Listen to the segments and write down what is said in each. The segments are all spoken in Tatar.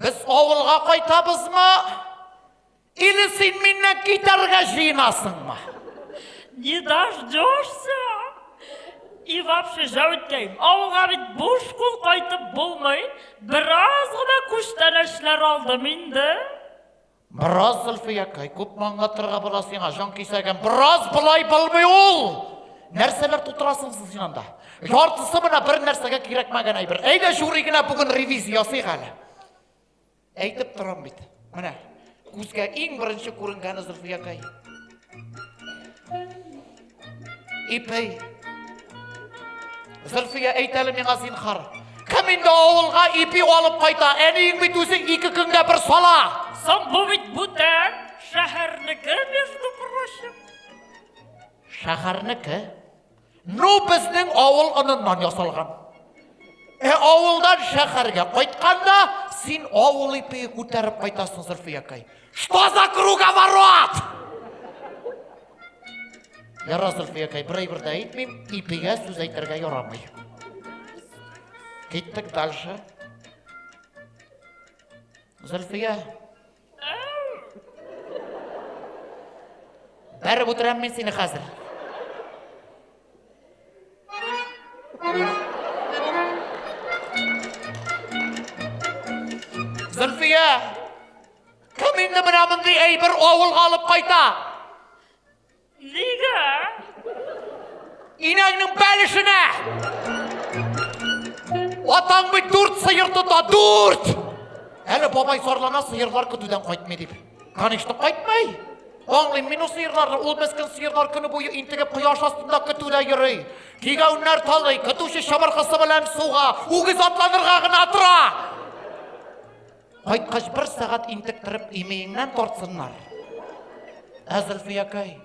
Без авылга кайтабызмы? Или син миннән китәргә җыенасыңмы? Не дождешься? И вообще, Җәүткәем, авылга бит буш кул кайтып булмый. Бераз гына күчтәнәчләр алдым инде. Бераз Зөлфиякай, күпме аңлатырга була сиңа, җан кисәгем, бераз болай булмый ул! Нәрсәләр тутырасың сез янда? Яртысы менә бер нәрсәгә кирәкмәгән әйбер. Әйдә жюри генә бүген ревизия ясыйк әле. Әйтеп торам бит. Менә күзгә иң беренче күренгәне Зөлфиякай. Ипей. Зөлфия әйт әле миңа зинхар. Кем инде авылга ипи алып кайта? Әниең бит үзе ике көнгә бер сала. Соң бу бит бүтән шәһәрнеке, между прочим. Шәһәрнеке? Ну, безнең авыл оныннан ясалган. Ә авылдан шәһәргә кайтканда, син авыл ипие күтәреп кайтасың, Зөлфиякай. Что за круговорот? Ярар, Зөлфиякәй, бер әйбер дә әйтмим, ипигә сүз әйтергә ярамый. Киттек дальше. Зөлфия. Бәреп утырам мин сине хәзер. Зөлфия! Кем инде менә мондый әйбер авылга алып кайта? Нигә? Инәңнең бәлешенә! Атаң бит дүрт сыер тота, дүрт! Әле бабай зарлана сыерлар көтүдән кайтмый дип. Конечно, кайтмый. Аңлыйм мин ул сыерларны, ул мескен сыерлар көне буе интегеп кояш астында көтүдә йөри. Кигәүннәр талый, көтүче чабыркысы белән суга, үгез атланырга гына тора. Кайткач бер сәгать интектереп имееңнән тартсыннар. Ә Зөлфиякәй,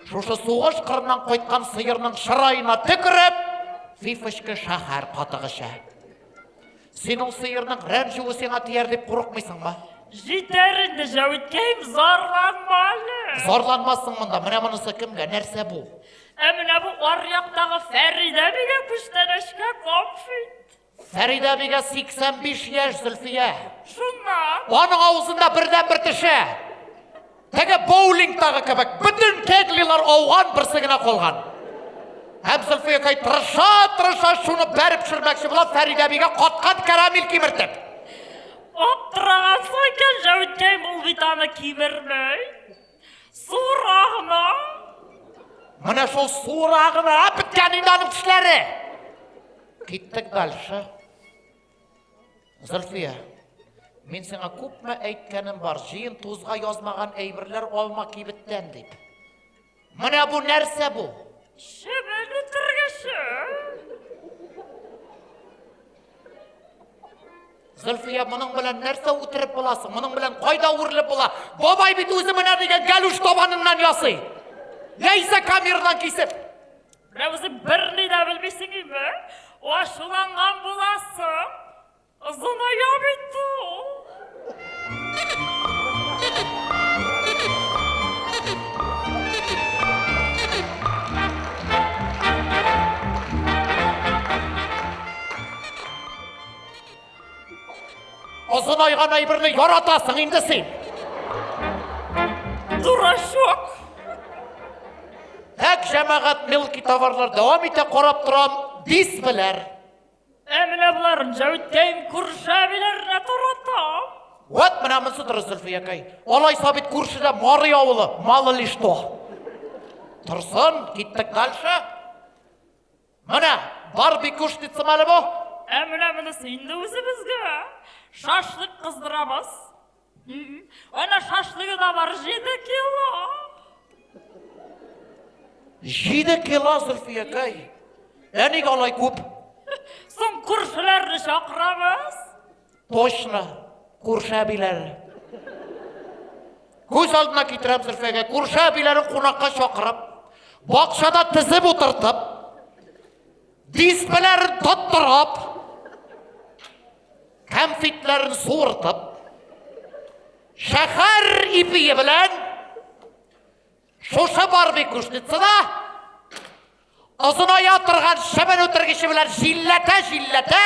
шушы сугыш кырыннан кайткан сыерның чыраена төкереп, фифочка шәһәр катыгыча. Син ул сыерның рәнҗүе сиңа тияр дип курыкмыйсыңмы? Җитәр инде, Җәвиткәем, зарланма әле. Зарланмассың монда, менә монысы кемгә, нәрсә бу? Ә менә бу аръяктагы Фәридә бигә күчтәнәчкә комфит. Фәридә бигә 85 яшь Зөлфия. Шуннан. Аның авызында бердән бер теше. Теге боулингтагы кебек бөтен кеглилар ауган, берсе генә калган. Һәм Зөлфия кай тырыша, тырыша шуны бәреп төшермәкче була Фәридә бигә каткан карамель кимертеп. Аптырагансың икән, Җәүткәй, ул бит аны кимермәй. Сура гына. Менә шул сура гына беткән инде аның тешләре. Киттек дальше. Зөлфия, мин сиңа күпме әйткәнем бар, җыен тузга язмаган әйберләр алма кибеттән дип. Менә бу нәрсә бу? Шебек үтергеше. Зөлфия, моның белән нәрсә үтереп буласың? Моның белән кайда үрелеп була? Бабай бит үзе менә дигән галүш табаныннан ясый. Яисә камердан кисеп. Менә үзең берни дә белмисең инде. Ачуланган буласың. Озыная бит ул. Озын айган әйберне яратасың инде син. Дурачок. Әк җәмәгать мелкий товарлар дәвам итә карап торам, дис беләр. Ә менә болар Җәүткәем күршәбиләрне тарата. Вот менә монсы дөрес Зөлфиякәй. Алай сабит күршедә Марый авылы, мало ли что. Торсын, киттек дальше. Менә бар бик күш дитсем әле бу. Ә менә монысы инде үзебезгә. Шашлык кыздырабыз. Ана шашлыгы да бар 7 кило. 7 кило Зөлфиякәй. Ә ник алай күп? Соң күршеләрне чакырабыз. Точно, күрше әбиләре. Күз алдына китерәм Зөлфәгә, күрше әбиләрен кунакка чакырып, бакчада тезеп утыртып, дисбеләрен тоттырып, кәмфитләрен суыртып, шәһәр ипие белән Шушы Барби күшницада озыная торган шыбын үтергече белән җилләтә-җилләтә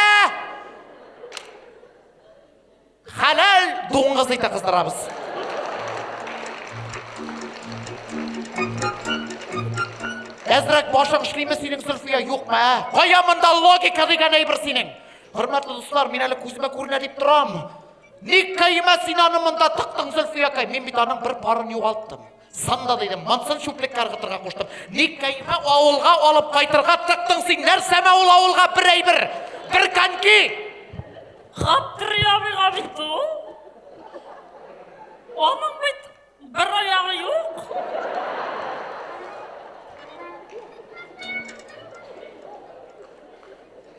хәләл дуңгыз ите кыздырабыз. Әзрәк башың эшлиме синең Зөлфия, юкмы? ә? Кая монда логика дигән әйбер синең? Хөрмәтле дуслар, мин әле күземә күренә дип торам. Ник кәймә син аны монда тыктың, Зөлфиякай? Мин бит аның бер парын югалттым. Санда дидем, монсын чүплеккә ыргытырга куштым. Ник кәймә авылга алып кайтырга тыктың син? Нәрсәмә ул авылга бер әйбер, бер коньки? Хаттырый абыйга бит ул. Аның бит Бер аягы юк.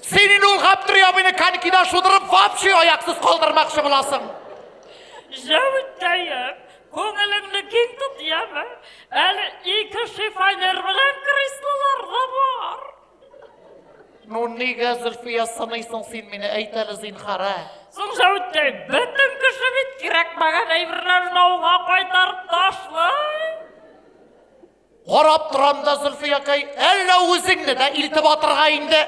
Син инде ул Гаптри абыйны конькида шудырып, вообще аяксыз калдырмакчы буласың. Җәвиттәем, күңелеңне киң тот, яме. Әле ике шифонер белән креслолар да бар. Ну, нигә Зөлфия сыныйсың син мине, әйт әле зинхара. Соң Сәүдә, бөтен кеше бит кирәкмәгән әйберләрен ауга кайтарып ташлый. Карап торам да, Зөлфиякәй, әллә үзеңне дә илтеп атырга инде.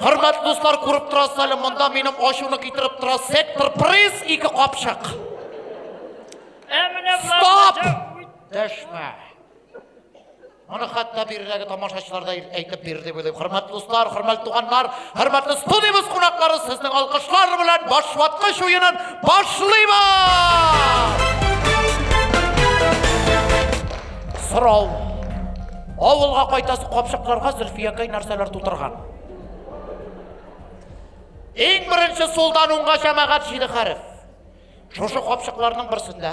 Хөрмәтле дуслар, күреп торасыз әле, монда минем ачуны китереп тора сектор приз ике капчык. Стоп! Дәшмә. Моны хәтта биредәге тамашачылар да әйтеп бирде дип уйлыйм. Хөрмәтле дуслар, хөрмәтле туганнар, хөрмәтле студиябез кунаклары, сезнең алкышлар белән башваткыч уенын башлыйбыз! Сорау. Авылга кайтасы капчыкларга Зөлфиякәй нәрсәләр тутырган? Иң беренче сулдан уңга җәмәгать җиде хәреф. Шушы капчыкларның берсендә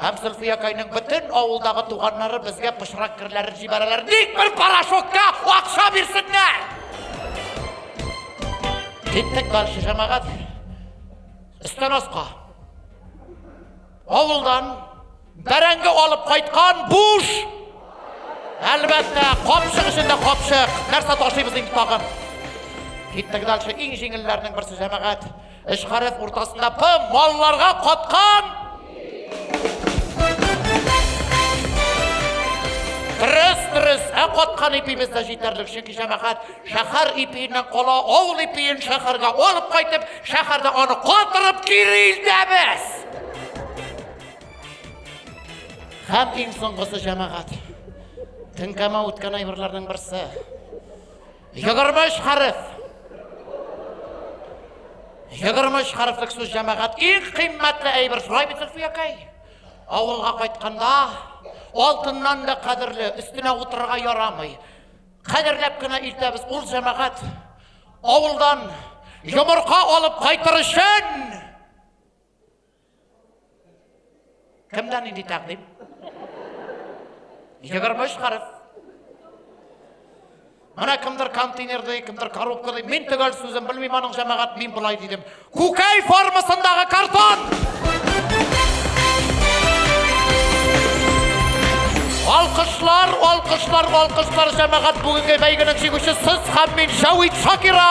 Һәм Зөлфиякайның бөтен авылдагы туганнары безгә пычрак керләрен җибәрәләр. Ник бер порошокка акча бирсеннәр? Киттек дальше, җәмәгать. Өстән аска. Авылдан бәрәңге алып кайткан буш. Әлбәттә, капчык эчендә капчык. Нәрсә ташыйбыз инде тагын? Киттек дальше, иң җиңелләрнең берсе җәмәгать. Эш гарәп уртасында П малларга каткан! Дөрес, дөрес, ә каткан ипимез дә җитәрлек, чөнки җәмәгать шәһәр ипиеннән кала, авыл ипиен шәһәргә алып кайтып, шәһәрдә аны катырып кире илтәбез. Һәм иң соңгысы җәмәгать. Теңкәмә үткән әйберләрнең берсе. Егерме өч хәреф. Егерме өч хәрефлек сүз җәмәгать. Иң кыйммәтле әйбер шулай бит Зөлфиякәй. Авылга кайтканда алтыннан да кадерле, өстенә утырырга ярамый. Кадерләп кенә илтәбез ул җәмәгать. Авылдан йомырка алып кайтыр өчен Кемдә нинди тәкъдим? Егерме өч хәреф. Менә кемдер контейнер ди, кемдер коробка ди. Мин төгәл сүзен белмим аның җәмәгать, мин болай дидем. Күкәй формасындагы картон! Алкышлар, алкышлар, алкышлар җәмәгать бүгенге бәйгенең җиңүчесе сез һәм мин Шавит Шакира!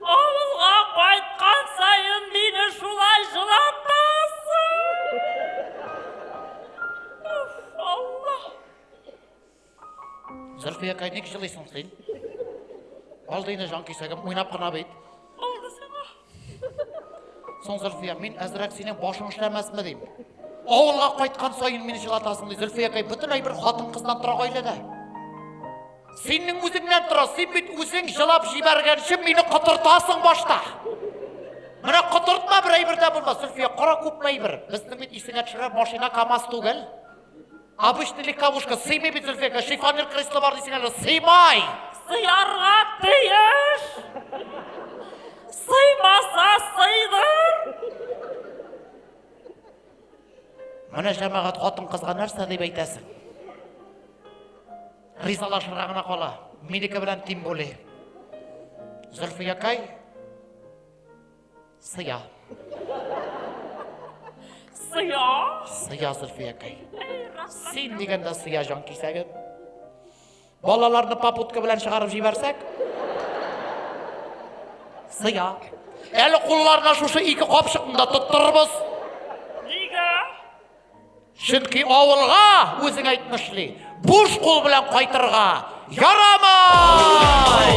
Авылга кайткан саен мине шулай җылатасың. Уф, Алла. Зөлфиякай, ник җылыйсың син? Алдыйны җан кисәгем, уйнап кына бит. Алды сиңа. Соң Зөлфия, мин әзрәк синең башың эшләмәсме дим. Авылга кайткан саен мине җылатасың ди. Зөлфиякай, бөтенләй бер хатын-кыздан тора гаиләдә. Синең үзеңнән тора, син бит үзең җылап җибәргәнче мине котыртасың башта. Менә котыртма бер әйбер дә булмас, Зөлфия, кара күпме әйбер. Безнең бит исеңә төшерер машина КАМАЗ түгел. Обычный легковушка сыймый бит Зөлфиягә, шифонер кресло бар дисең әле, сыймай. Сыярга тиеш. Сыймаса сыйдыр. Менә җәмәгать хатын кызга нәрсә дип әйтәсең? Ризалашырга гына кала. Минеке белән тим були. Зөлфиякай сыя. Сыя? Сыя Зөлфиякай. Син дигәндә сыя җан кисәгем. Балаларны попутка белән чыгарып җибәрсәк, сыя. Әле кулларына шушы ике капчыкны да тоттырырбыз. Чөнки авылга үзең әйтмешли, буш кул белән кайтырга ярамай!